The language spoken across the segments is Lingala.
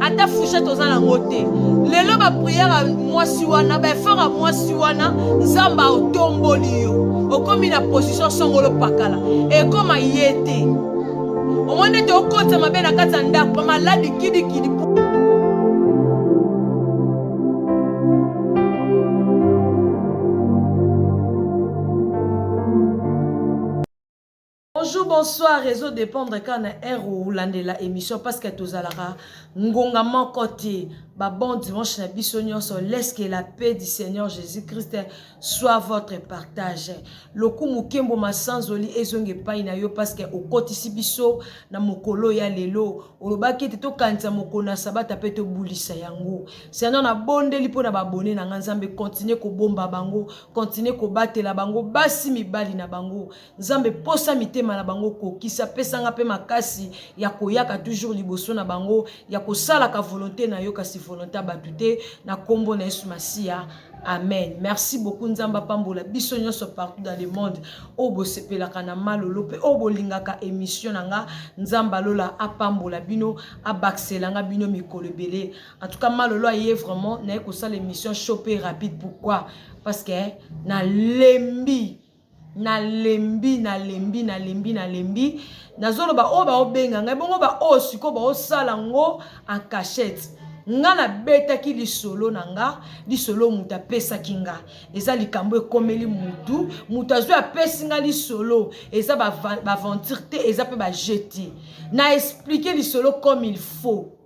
ata fouchette oza nango te lelo bapriere ya mwasi wana baefort ya mwasi wana nzambe aotomboli yo okomi na position songolo pakala ekoma ye te omoni ete okotisa mabe na kati ya ndako bamaladi kidikidi Bonjour, bonsoir, réseau dépendre kaka na heure olandela émission parce que tozalaka ngonga moko te ba bon dimanche na biso nyonso laisse que la paix du Seigneur Jésus-Christ soit votre partage lokumu kembo masanzoli ezonga epai na yo parce que okotisi biso na mokolo ya lelo olobaki ete tokanisa mokolo na sabata mpe tobulisa yango Seigneur nabondeli mpo na babone na ngai Nzambe continue kobomba bango continue kobatela bango basi mibali na bango Nzambe posa mitema na bango kokisa pesa nga pe makasi ya koyaka toujours liboso na bango ya kosalaka volonté na yo kasi volonté ya bato te na kombo na Yesu Masiya Amen. Merci beaucoup Nzamba pambola biso nyonso partout dans le monde. Oyo bosepelaka na malolo pe oyo bolingaka émission na nga Nzamba lola apambola bino abakisela nga bino mikolo ebele. En tout cas malolo aye vraiment naye kosala émission show pe rapide pourquoi? Parce que na lembi na lembi na lembi na lembi na lembi nazoloba oyo baobenga ngai bongo baoyo sikoyo baosala yango en cachette nga nabetaki lisolo na nga lisolo moto apesaki nga eza likambo ekomeli motu moto azwi apesi nga lisolo eza baventure te eza mpe bajeu te na esplike lisolo comme il faut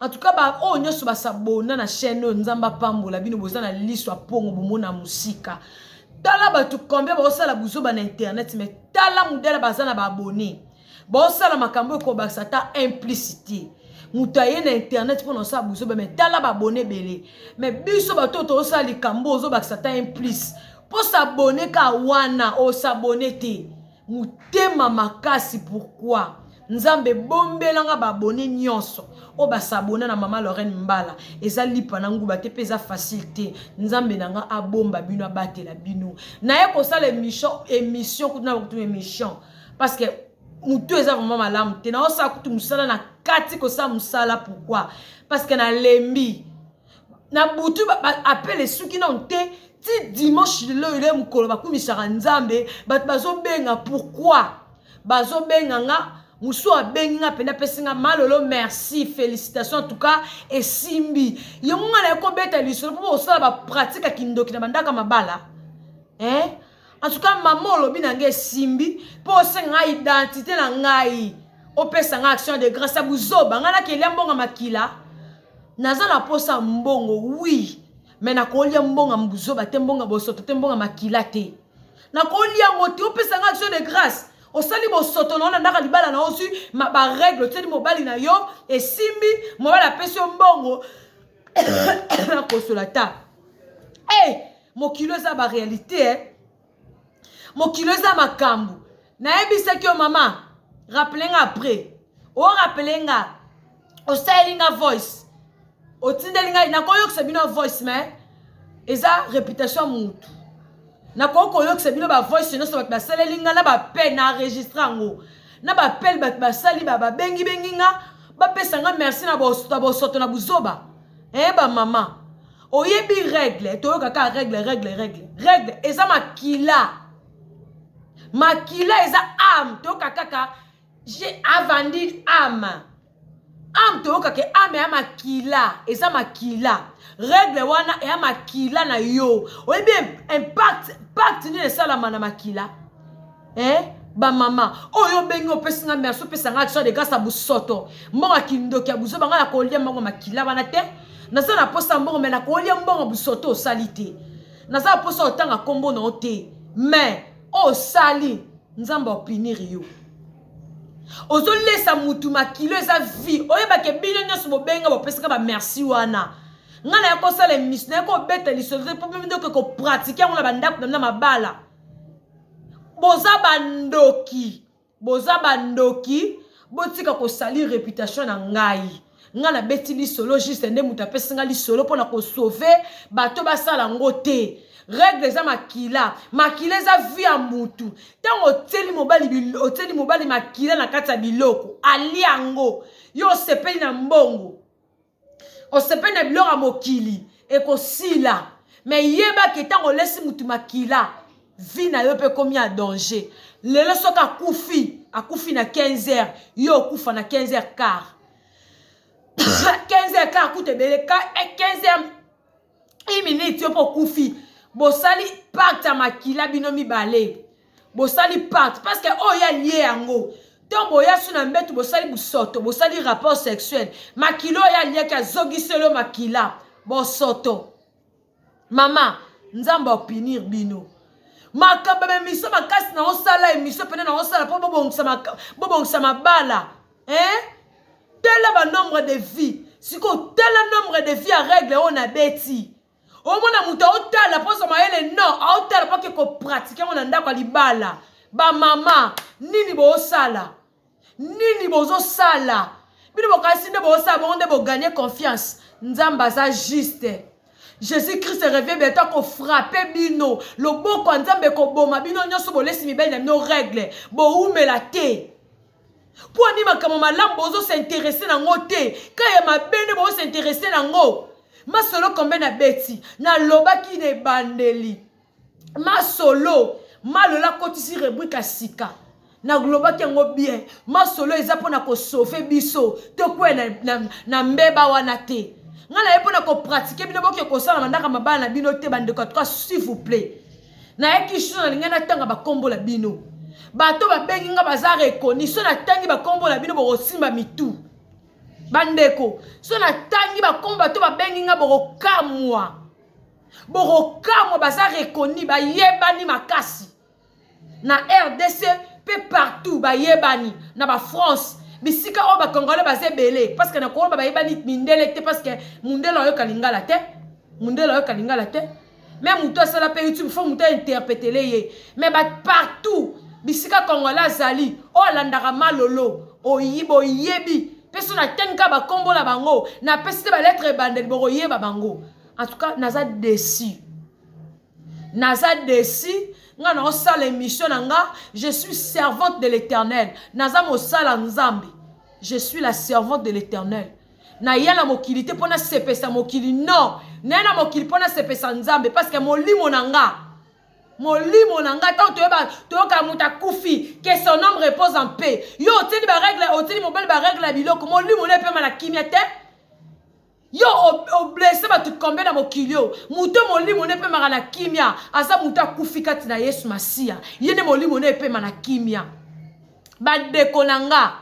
En tout cas ba oyo nyoso ba s'abonna na chaîne oyo Nzambe apambola bino boza na liso ya pongo bomona musika. Tala bato combien baosala buzoba na internet mais tala mudele baza na ba abonne. Baosala makambo ekobakisa ata implicité. Moto aye na internet mpo na osala buzoba mais tala ba abonne ebele. Mais biso bato oyo tosala likambo ozobakisa ata implice. Mpo s'abonne ka wana osabonne te. mutema makasi pourquoi nzambe bombela nga ba abonne nionso oyo ba s'abonne na mama Lorraine mbala eza lipa na nguba te pe eza facile te nzambe na nga abomba bino abatela bino naye kosala emission emission kutu na kutu emission parce que mutu eza vraiment malamu te na osala kutu musala na kati kosala musala pourquoi parce que nalembi na butu apele esuki nano te ti dimanche lelo eye mokolo bakumisaka nzambe bato bazobenga pourkui bazobenga nga mosusu abengi nga mpenza apesi nga malolo merci félicitation en tout cas esimbi yango nga naye kobeta lisolo mpo bosala bapratike ya kindoki na bandaka mabala eh? En tout cas, maman olobi na ngai esimbi mpo osenga ngai identité na ngai opesa ngai action de grâce ya buzoba ngai nakelia mbongo ya makila naza na mposa ya mbongo wi me nakolia mbongo ya buzoba te mbongo ya bosoto te mbongo ya makila te nakolia yango te opesa ngai action de grâce osali bosoto na yo na ndaka libala na ozwi baregle otyeli mobali na yo esimbi mobali apesi yo mbongo na kosola ta hey, eh, mokili eza ba réalité eh? mokili eza makambo nayebisaki yo mama rappele nga après orapele nga osaleli nga voice otindeli ngai nakoyokisa bino voice mais eza réputation ya mutu nakoki koyokisa bino bavoice nyonso bato basaleli nga na bapel na enregistre yango na bapel bato basali babengibengi nga bapesa nga merci na bosoto na buzoba e eh, bamama oyebi règle toyoka kaka règle règle règle règle eza makila makila eza ame toyoka kaka je avandi ame ame toyoka ke ame ya makila eza makila regle wana eya makila na yo oyebi impact pacte nini esalama na makila eh? bamama oyo oh, obengi opesi nga merci opesa nga action de grâce ya bosoto mbongo ya kindoki ya buzoba ngai nakolia mbongo makila wana te naza na mposa ya mbongo me nakolia mbongo bosoto osali te naza na mposa otanga nkombo na yo te me oyo osali nzambe opiniri yo ozolesa mutu makilo eza vie oyebake bino nyonso bobenga bopesaka bamerci wana ngai naya kosala emission naya kobeta lisolo te mpo mimi ndoke kopratike yango na bandako na bino na mabala boza bandoki boza bandoki botika kosali reputation na ngai nga na beti lisolo juste nde moto apesi nga lisolo mpo na kosauve bato basala yango te règle eza makila makila eza vie ya mutu ntango otieli mobali otieli mobali makila na kati ya biloko alia yango yo osepeli na mbongo osepeli na biloko ya mokili ekosila me yeba ke ntango olesi motu makila vi na yo mpe ekomi ya danger lelo soki akufi akufi na 15 heures yo okufa na 15 heures car 15 heures car kuta ebele 15 heures iminute yo mpe okufi bosali pacte ya makila bino mibale bosali pacte parce que oyo ya lie yango to boya su na mbetu bosali busoto bosali rapport sexuel makila oyo aliaki azogiselo makila bosoto mama nzambe opinir bino makambo ya emisio makasi na osala emisio mpena na osala mpo bobongisa mabala eh? tala banombre de vie sikoyo tala nombre de vie ya règle oyo nabeti omona moto aotala mpo ozwa mayele no aotala mpo ake kopratike yango na ndako ya libala bamama nini boosala nini bozosala bino bokanisi nde boosala bongo nde boganye confiance nzambe aza juste jésus christ revie bientôt akofrape bino loboko ya nzambe ekoboma bino nyonso bolesi mibali na bino regle bowumela te Mpo nini makambo malamu bozo s'interesse na ngo te? Ka ya mabe nde bozo s'interesse na ngo? Masolo kombe na beti, na lobaki na ebandeli. Masolo, malola kotisi rebrika sika. Na lobaki yango bien, masolo eza mpo na ko sauver biso, tokwe na, na, na mbeba wana te. Nga na ye mpo na ko pratiquer bino boke kosala mandaka mabala na bino te bandeko, en tout cas s'il vous plaît. Naye Kishina nalinga natanga bakombo na bino. Bato babengi nga baza rekoni. So natangi bakombo na bino bokosimba mitu. Bandeko, so natangi bakombo bato babengi nga bokokamwa. Bokokamwa baza rekoni, bayebani makasi. Na RDC pe partout bayebani na ba France bisika oyo bakongole baza ebele parce que na koyeba bayebani mindele te parce que mundele ayoka lingala te mundele ayoka lingala te me moto asala mpe youtube fo moto ainterpetele ye me ba partout bisika kongola azali oyo alandaka malolo oyi boyebi mpe so natangi kaka bakombo na bango napesi te baletre ebandeli bokoyeba bango en tout cas naza desi naza desi nga naosala émission na nga je suis servante de l'éternel naza mosala nzambe je suis la servante de l'éternel naya na mokili te mpo nasepesa mokili non naya na mokili mpo nasepesa nzambe parceke molimo na nga molimo na nga ntango toyeba toyoka moto akufi ke son homme repose en paix yo otieli baregle otieli mobali baregle ya biloko molimo na epema na kimia te yo oblese bato kombe na mokili oyo moto molimo na epemaka na kimia aza moto akufi kati na yesu masiya ye nde molimo na epema na kimia bandeko na nga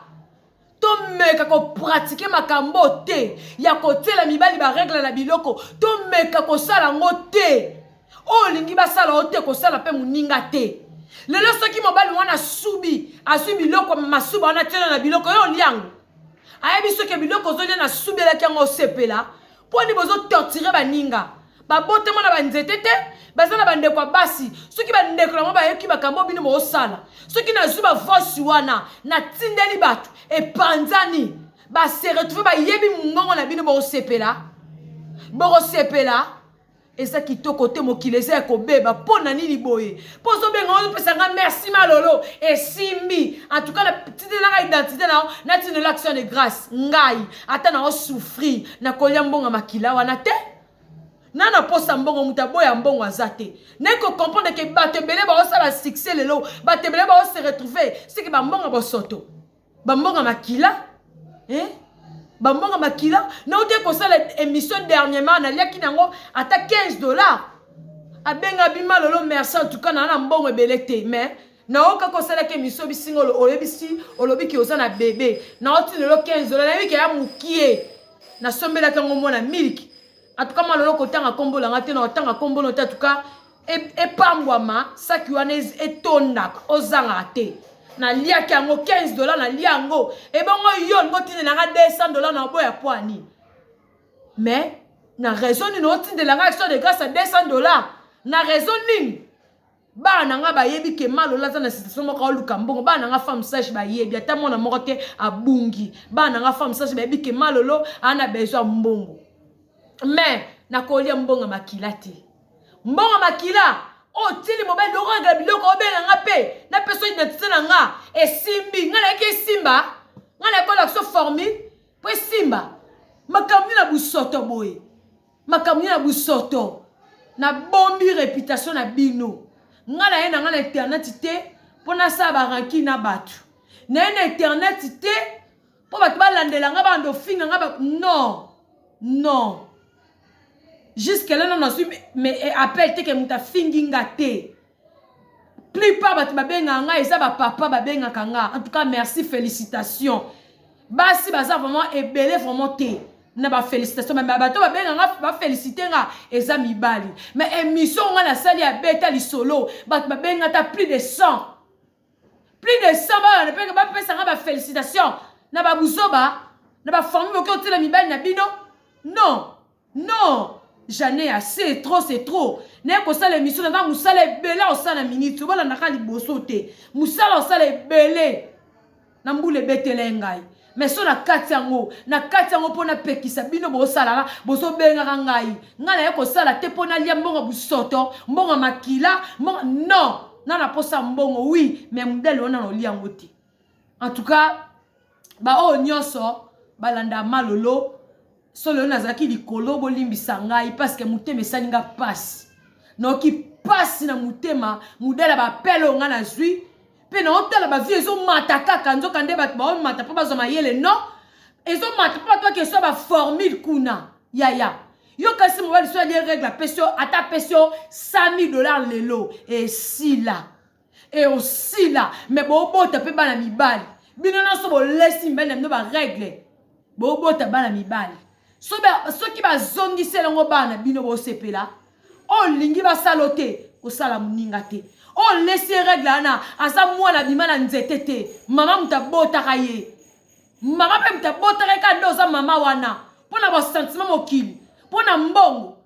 tomeka kopratike makambo te ya kotyela mibali baregle na biloko tomeka kosala yango te oyo olingi basala yo te kosala mpe moninga te lelo soki mobali wana asubi azwi biloko masuba wana tyela na biloko yo olyango ayebi soki biloko ozolya nasubelaki yango osepela mpo nde bozo torture baninga babotama na banzete te baza na bandeko ya basi soki bandeko yango bayoki makambo bino boosala soki nazwi bavosi wana natindeli bato epanzani base retrouve bayebi mongongo na bino bokosepela bokosepela eza kitoko te mokili eza ya kobeba mpo na nini boye mpo ozobenga oyo opesa ngai merci malolo esimbi antuka natitelaka identité na yo natindela action de grâce ngai ata na osouffrir na kolia mbongo makila wana te na na posa mbongo moto aboya mbongo aza te naye kocomprendre ke bato ebele baosala succès lelo bato ebele baose retrouve seke bambongo bosoto bambongo ya makila eh? bambongo ya makila nauti kosala émission dernièrement naliaki na yango ata 15 dollars abenga bima lolo merci en tout cas naa na mbongo ebele te mais naoka kosalaki émission bisinga oyebisi olobi ke oza na bebe naoti lelo 15 dollars nayebi ke ya mokie nasombelaki yango mwana miliki en tout cas malolo kotanga kombo langa te na otanga kombo no te en tout cas epambwama saki wana etondaka ozangaka te naliaki yango 15 dola nalia yango ebongo yo olingi otindela nga 200 dola na oboya mpo ya nini mais na raison nini otindela nga action de grâce ya 200 dola na raison nini bana na ngai bayebi ke malola aza na situation moko aoluka mbongo bana na ngai femme sage bayebi ata mwana moko te abungi bana na ngai femme sage bayebi ke malolo ana besoin mbongo mais nakolia mbongo ya makila te mbongo makila oyo oh, tili mobali dokanga biloko obenga nga mpe napesa identité na nga esimbi nga nayaki esimba nga nayaki olakisa formule mpo esimba makambo nini na busoto boye makambo nini na busoto nabombi reputation na bino nga naye na nga na internet te mpo nasala baranki na bato naye na internet te Po bato balandela nga bando finga nga ba non non jusque là nano azwi mais eh, appel te ke moto afingi nga te plupart bato babengaka nga eza bapapa babengaka nga en tout cas merci félicitation basi baza vraiment ebele vraiment te na bafélicitation bato babenga nga bafélicite nga eza mibali mais émission nga nasali ya beta lisolo bato babenga ata plus de 100 plus de 100 bana mpe bapesa nga ba félicitation na babuzoba na bafamille boki otela mibali na bino non non jane ase trop c'est trop naye kosala émission na nga mosala ebele osala na minute obolandaka liboso te mosala osala ebele na mbula ebetele ngai meso na kati yango na kati yango mpo napekisa bino bosalaka bozobengaka ngai ngai naye kosala te mpo nalia mbongo busoto mbongo makila mbongo non na naposa mbongo wi me modele wana naolia yango te en tout cas baoyo nyonso balanda malolo solo yo nazalaki likolo bolimbisa ngai parce que motema esali nga pasi naoki pasi na motema modala bapele oyo ngai nazwi mpe naotala bavie ezomata kaka nzoka nde bato baomata mpo bazwa mayele non ezomata mpo bato bakeswa baformule kuna yaya yo kasi mobali so alie regle apesi yo ata apesi yo 100 000 dollar lelo esila e osila me bobota mpe bana mibali bino nyonso bolesi mibali na bino baregle bobota bana mibali soki bazongisi elongo bana bino bosepela oyo olingi basala o te kosala moninga te oyo olesi ye regle wana aza mwana abima na nzete te mama moto abotaka ye mama mpe moto abotaka ye kaka nde oza mama wana mpo na basentiment mokili mpo na mbongo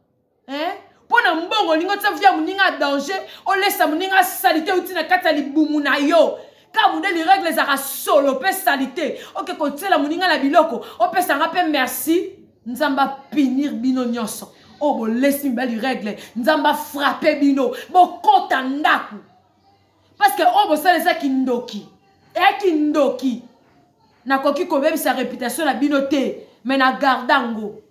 eh? mpo na mbongo olingi otia via moninga ya danger olesa moninga salite euti na kati ya libumu na yo ka modeli regle ezalaka solo mpe salite oke kotiela moninga na biloko opesa nga mpe merci nzambe apinir bino nyonso oyo oh, bolesi mibali regle nzambe afrape bino bokota ndako parceke oyo oh, bosala eza kindoki eya kindoki nakoki kobebisa reputation na bino te me na garda yango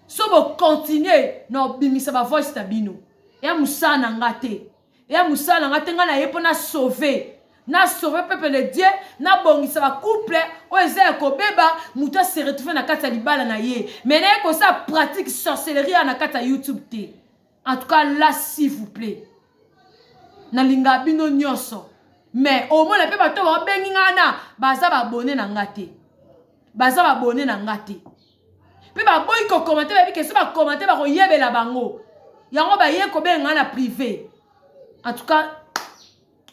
Soki bo continuer na kobimisa ba voice na bino, eya mosala na nga te, eya mosala na nga te, nga naye po na sauver, na sauver peuple de Dieu, na bongisa ba couple oyo eza ya kobeba, mutu a se retrouver na kati ya libala na ye, mais naye kosala pratique sorcellerie awa na kati ya YouTube te. En tout cas là s'il vous plaît nalinga bino nyonso mais omona mpe bato babengi ngai na baza babone na ngai te baza babone na ngai te mpe baboyi kokomante bayebi ke so bakomante bakoyebela bango yango baye kobenga ngai na prive en tout cas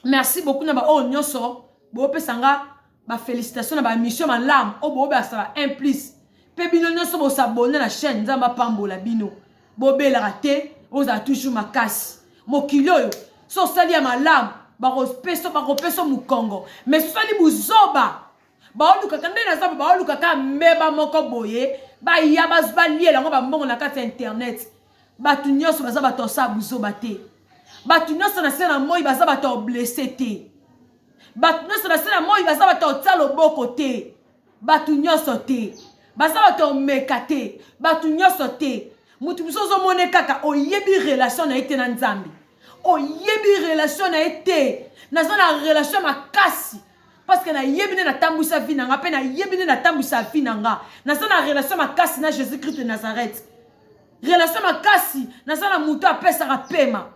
merci beaucoup na baoyo nyonso bopesa ngai ba felicitation na ba emission malamu oyo boobelakisa ba 1 plus mpe bino nyonso bosabone na chaîne nzambe apambola bino bobelaka te ozala toujours makasi mokili oyo so osali ya malamu bakopesa bakopesa mokongo mais sosali buzoba baolukaka nde naza baolukaka mbeba moko boye baya balia yango bambongo na kati ya internet bato nyonso baza bato ya sala buzoba te bato nyonso na se na moi baza bato ya blesse te bato nyonso na se na moi baza bato ya kotia loboko te bato nyonso te baza bato ya komeka te bato nyonso te moto mosusu ozomone kaka oyebi relation na ye te na nzambe oyebi relation na ye te naza na relation ya makasi parce que nayebi nde natambwisa vi na nga mpe nayebi nde natambwisa vi na nga naza na relation makasi na jésus christ de nazareth relation makasi naza na moto apesaka pema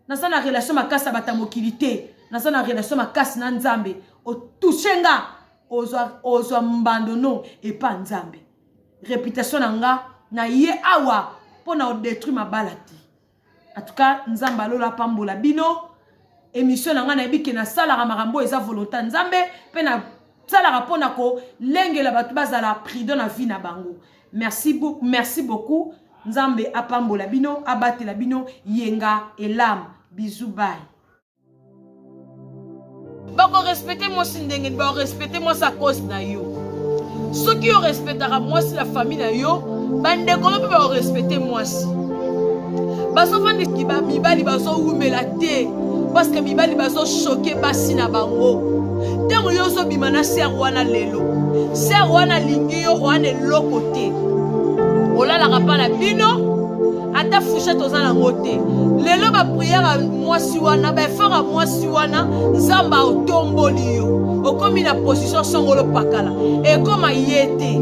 naza na relation makasi na bato ya mokili te naza na relation makasi na nzambe otouche nga ozwa, ozwa mbando no epa nzambe reputation na nga na ye awa mpo na odetruire mabala te en tout cas nzambe alola apambola bino émission na ngai nayebi ke nasalaka makambo oyo eza volonté ya nzambe mpe na salaka mpo na kolengela bato bazala prudent na vie na bango merci, merci beaucoup nzambe apambola bino abatela bino yenga elam bisou bay bakorespecte mwasi ndenge bakorespecte mwasi a cause na yo soki orespectaka mwasi na famille na yo bandeko no mpe bakorespecte mwasi bazovandaki bamibali bazowumela te parceke mibali bazoshoke basi na bango ntango yo ozobima na ser wana lelo ser wana alingi yo wana eloko te olalaka mpa na bino ata fouchette oza nango te lelo bapriere ya mwasi wana baefort ya mwasi wana nzambe aotomboli yo okomi na position songolo pakala ekoma ye te